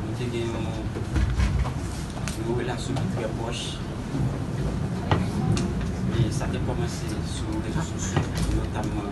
Nou te gen yon relasyon ki trè pwòch. E sa te kòmanse sou rezo sosyo, notamman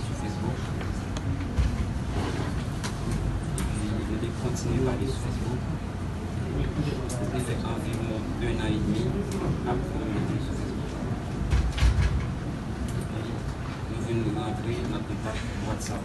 sou Facebook. Epi nou te kontinye pale sou Facebook. Nou te fè anviwon ennan edmi ap kominike sou Facebook. Epi nou vin rantre nan kontak WhatsApp.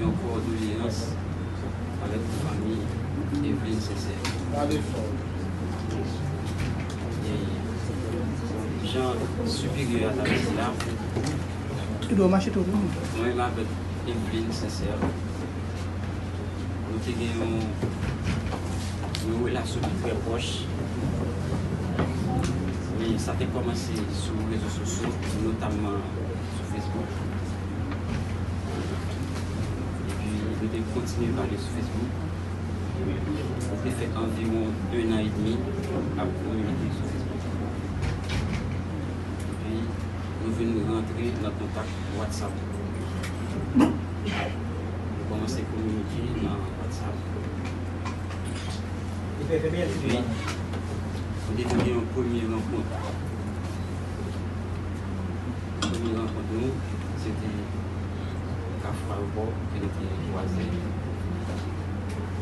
Yon kòdoleyans avèk fanmi Evelyne Sincère. Jan siperyè a ta di la, mwen menm avèk Evelyne Sincère, nou te gen yon relasyon ki trè pwòch. Sa te kòmanse sou rezo sosyo, notamman. sou Facebook epi nou te kontinye pale sou Facebook nou te fè anviwon 1 an edmi ap kominike sou Facebook epi nou vin rantre nan kontak WhatsApp nou kòmanse kominike nan WhatsApp epi nou te gen yon premye rankont. Premye rankont nou se te Kaf Malkò ke nou te vwazen yo.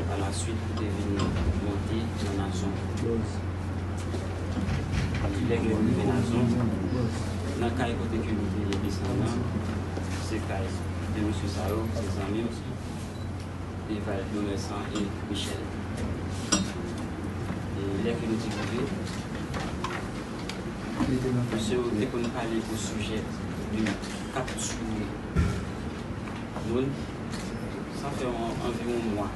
Pa la swit nou te vin monte nan Nazon. Lè nou rive Nazon, nan kay kote ke nou te desann nan, se kay 2 mesye sa yo, se zanmi m, Eval Domersan e Michèl. E lè ke nou te rive. Mesye yo te konn pale o sijè de kap tiye moun sa fè anviwon mwa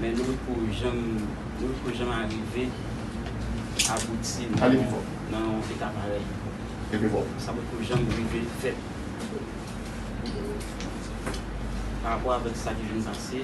men nou poko janm nou poko janm arive abouti nan yon eta parèy sa poko janm rive fèt parapò avèk sa ki vin pase.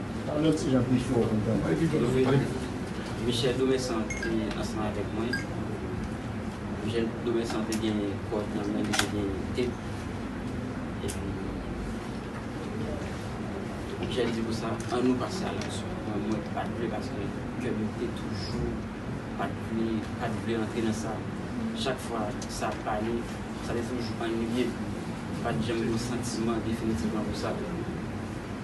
Michel Domenson te ansanm avèk mwen. Michel Domenson te gen kòd nan men li, te gen tep. Epi, Michel di konsa, an nou pase a laksyon. Men mwen pa t vle paske kè m te toujou pa t vle, pa t vle antre nan sa. Chak fwa sa ap pale, sa te toujou anniye m. M pa t janm gen yon santiman definitivman pou sa.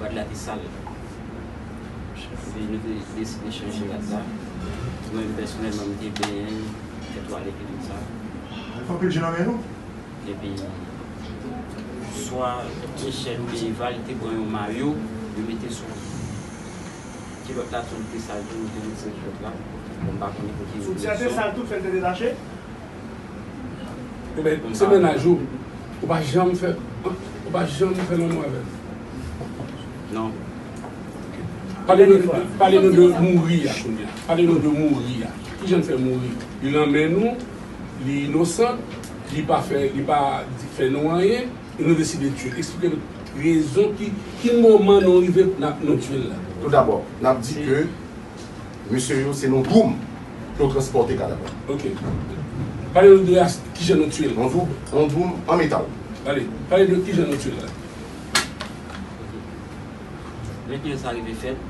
Rad la te sal. Epi nou te deside chanje rad la. Mwen menm pèsonèlman m te benyen, fè twalèt e tout sa. Anpil je nan men nou. Epi swa Michèl oubyen Eva li te pran yon mayo li mete sou kilòt la tou li te sal tou nou te retire kilòt la. Bon m pa konnen pou ki rezon. Soutyen an te sal tou fè l te detache? Ebyen se mennaj ou ou pa janm fè ou pa janm fè lanmou avèl? Non. Pale nou de pale nou de mouri a kounya pale nou de mouri a kijan l fè mouri li nan men nou li inosan li pa fè li pa fè nou anyen e nou deside tiye l eksplike nou rezon ki ki moman nou rive nan nou tiye l la. Tou dabò nap di ke Mesye yo se nan doum yo transpòte kadav la. Ok. Pale nou de as kijan nou tiyel. Yon doub, yon doum an metal. Pale. Pale de kijan nou tiyel la. Ok. Lè ke sa rive fèt,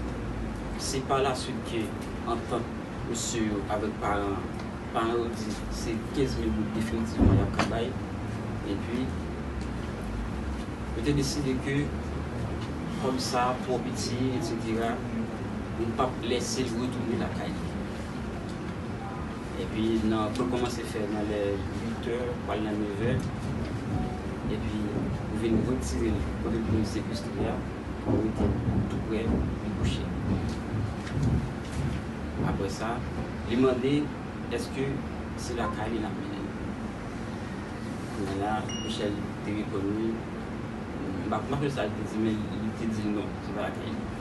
se pa la swit ke antant mesye yo avèk paran an. Paran yo di se 15 mil goud definitivman yap ka bay. Epi, yo te deside ke kòm sa twò piti, etc. Li pap lèsel retounen lakay li. Epi nan poul kòmanse fè nan lè 8 è pwal nan 9 è. Epi ou vin retirel kote poul sekestre a ou metel tou prè li kouche. Aprè sa li mande eske se lakay li nap mennenl. Kounya la Michel te reponn li, m pa konprann sa li te di men li te dil non se pa lakay li.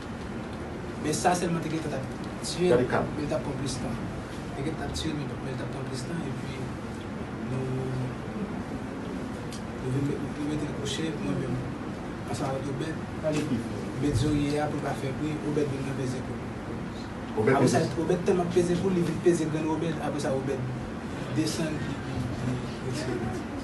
Men sa selman te gentan tap tiyel Gade kap. men li tap pran plis tan. Te gentan tap tiyel men li tap pran plis tan epi nou nou vin met nou metel kouche mwen menm ansanm avèk Obed. Gade ki vre. Obed zorye a pou l pa fè bri Obed vin nan peze kou l. Obed Apre sa peze. Obed tèlman peze kou l li vin peze grenn Obed apre sa Obed desann li li retire li.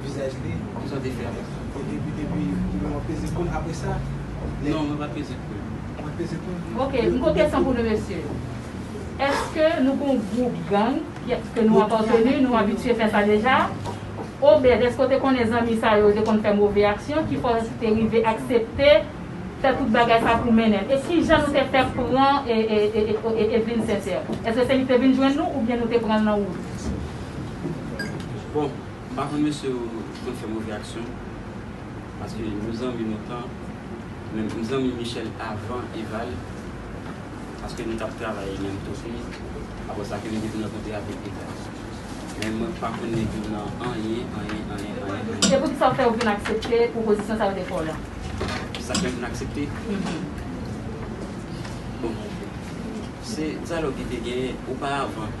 Vizaj li? Kisa w te fè avèk sa? Ou te pete pi li wap peze poul apre sa? Non mwen pat peze poul. Ou pat peze poul? Ok m gon kesyon pou nou mesye eske nou gon gwoup gang ke nou apateni nou abitye fè sa deja obed eske w te konnen zanmi sa yo te konn fè move aksyon ki fè w te rive aksepte fè tout bagay sa pou mennen e kijan nou te fè pran Evelyne Sincère eske se li ki te vin jwenn nou oubyen nou te pran l nan wout. Bon M pa konn mesye yo konn fè move aksyon paske nou zanmi lontan men m zanmi Michel avan Eval paske nou tap travay menm kote aprè sa ke m te vin rankontre avèk Eval men mwen pa konn nèg yo nan anyen anyen anyen anyen anyen. Se pou kisa ou fè ou vin aksepte pwopozisyon sa yo te fè w lan? Sa fè m vin aksepte? Bon se dyalòg ki te genyen oparavan.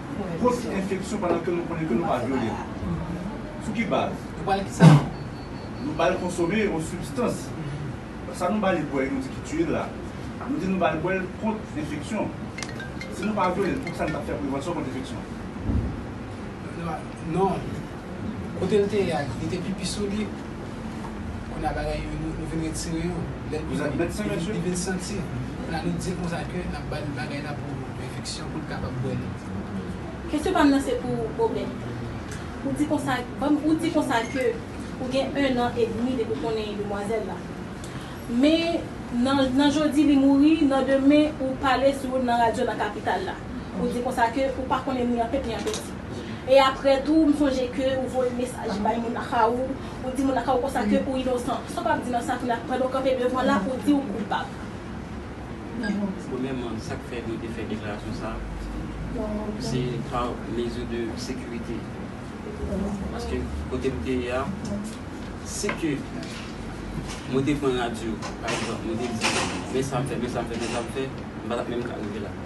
Gwo ti enfeksyon pandan ke nou konnen ke nou pa vyole l. Sou ki baz? Nou ba l ki sa? Nou ba l konsome yon sibstans. Sa nou ba li bwè e nou di ki tiye l la, nou di nou ba l bwè l kont enfeksyon. Si nou pa vyole l, poukisa nou pa fè prevansyon kont enfeksyon? Non. Kotel te ye a li te pipi sou li kounya bagay yo nou vin retire yo lèl pipi li vin santi kounya nou dil konsa ke nap bal bagay la pou enfeksyon poul kapab bwè li. Kesyon pam nan se pou Obed. Ou di konsa banm ou di konsa ke ou gen 1 an edmi depi ou konnen demwazèl la men nan nan jodi li mouri nan demen ou pale sou nan radyo nan kapital la ou di konsa ke ou pa konnen ni an pèt ni an pèti. E aprè tou m sonje ke ou voye mesaj bay moun lakaw ou, ou di moun lakaw ou konsa ke ou inosan. Sa w pap di nan sa kounye a pandan w kanpe devan la ou di ou koupab? Premyèman sa k fè mwen te fè deklarasyon sa se pa mezi de sekirite paske kote m te ye a si ke mwen te pran radyo pa egzanp mwen te di men sa m fè men sa m fè men sa m fè m pa tap menm ka rive la.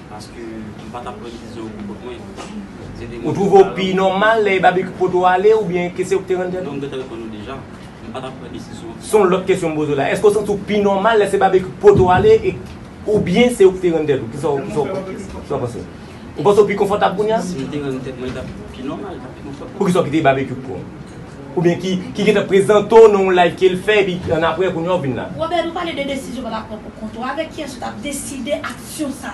Ou twouve w pi nòmal lè e Babekyou pote w ale oubyen ke se ou k te rann tèt ou? Se yon lòt kesyon m poze w la. Èske ou santi w pi nòmal lè se Babekyou k pote w ale e oubyen se ou k te rann tèt ou? Kisa w panse? Ou panse w pi konfòtab kounye a? Poukisa ou kite Babekyou k pran w? Oubyen ki gen tan prezante w nan yon live ke l fè epi annapre kounye a ou vin la? Robert, ou pale de desizyon w pa ta pran pou kont ou. Avèk kiyès ou t ap deside ak. Syon sa.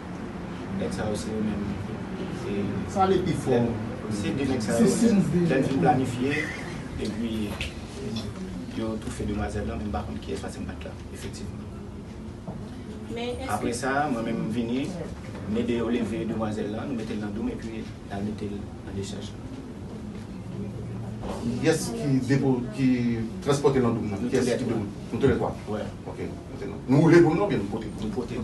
Nèg sa yo se yo menm Sa ale pi fò Se de nèg sa yo Lè n fin planifye Epi Yo toufe demwazèl lan M pa konn kiyès pase m pa t la Efektivman Apre sa mwen menm m vini M ede yo leve demwazèl lan Nou mete l nan doum epi n al mete l nan dechaj lan Kiyès ki depo Ki transpòte l nan doum nan Nou toulètwa Nou toulètwa Nou woule doum nan oubyen nou pote l Nou pote l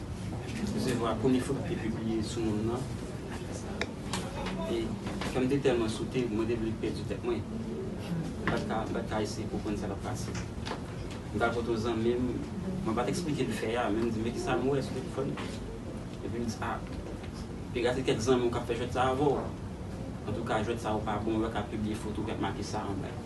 zèv akonifo ki te pibliye sou nonm nan. E kè m te tèlman sote, mwen te vle pèdi tèt mwen. M pa t ka eseye konprann sa k ap pase. M t al kote yon zanmi m, mwen pa t esplike l fè a, men m di l, men ki sa m wè sou telefòn nan. Epi l di, a, te ka se kèk zanmi w k ap fè jwèt sa a avè w. Antouka, jwèt sa yo pa bon, yo pa ka pibliye foto ki ap make sa anba yo.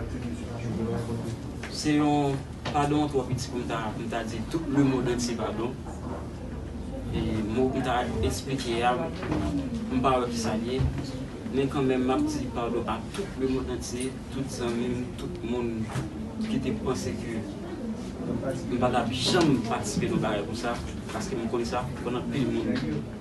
Se yon padon twò piti pou m ta di tout le mond antye padon. E mo pou m ta esplike a, m pa wè ki sa l ye. Men kanmenm m ap di padon a tout le mond antye, tout zanmi m, tout moun ki te panse ke m pa t ap janm patisipe nan bagay konsa, paske m konn sa, m konn anpil moun.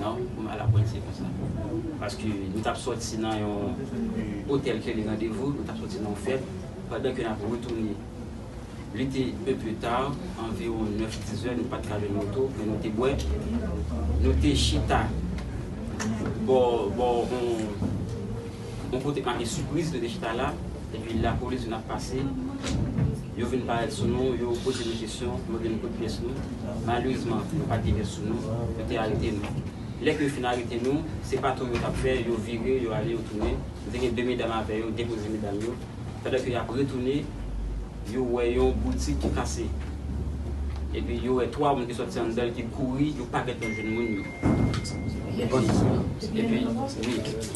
Non, m ala pwen se konsa. Paske nou t ap sòti nan yon otèl ke li randevou, nou t ap sòti nan yon fèt, pandan ke n ap retounen. Li te un peu tard, anviwon nèf, di zè, nou pa t ka jwenn moto, men nou te bwè. Nou te chita bò yon. Bon kote make sipriz rete chita la epi lapolis vin ap pase yo vin parèt sou nou yo poze nou kesyon yo vin kout pyès nou malerezman nou pat gen vès sou nou yo te arete nou lè ke yo fin arete nou se patrol yo tap fè yo vire yo ale yo tounen nou te gen 2 medam avè yo depoze medam yo pandan ke yap retounen yo wè yon boutik ki kase epi yo wè 3 moun ki sòti anndanl ki kouri yo pa gentan jwenn moun yo epi wi.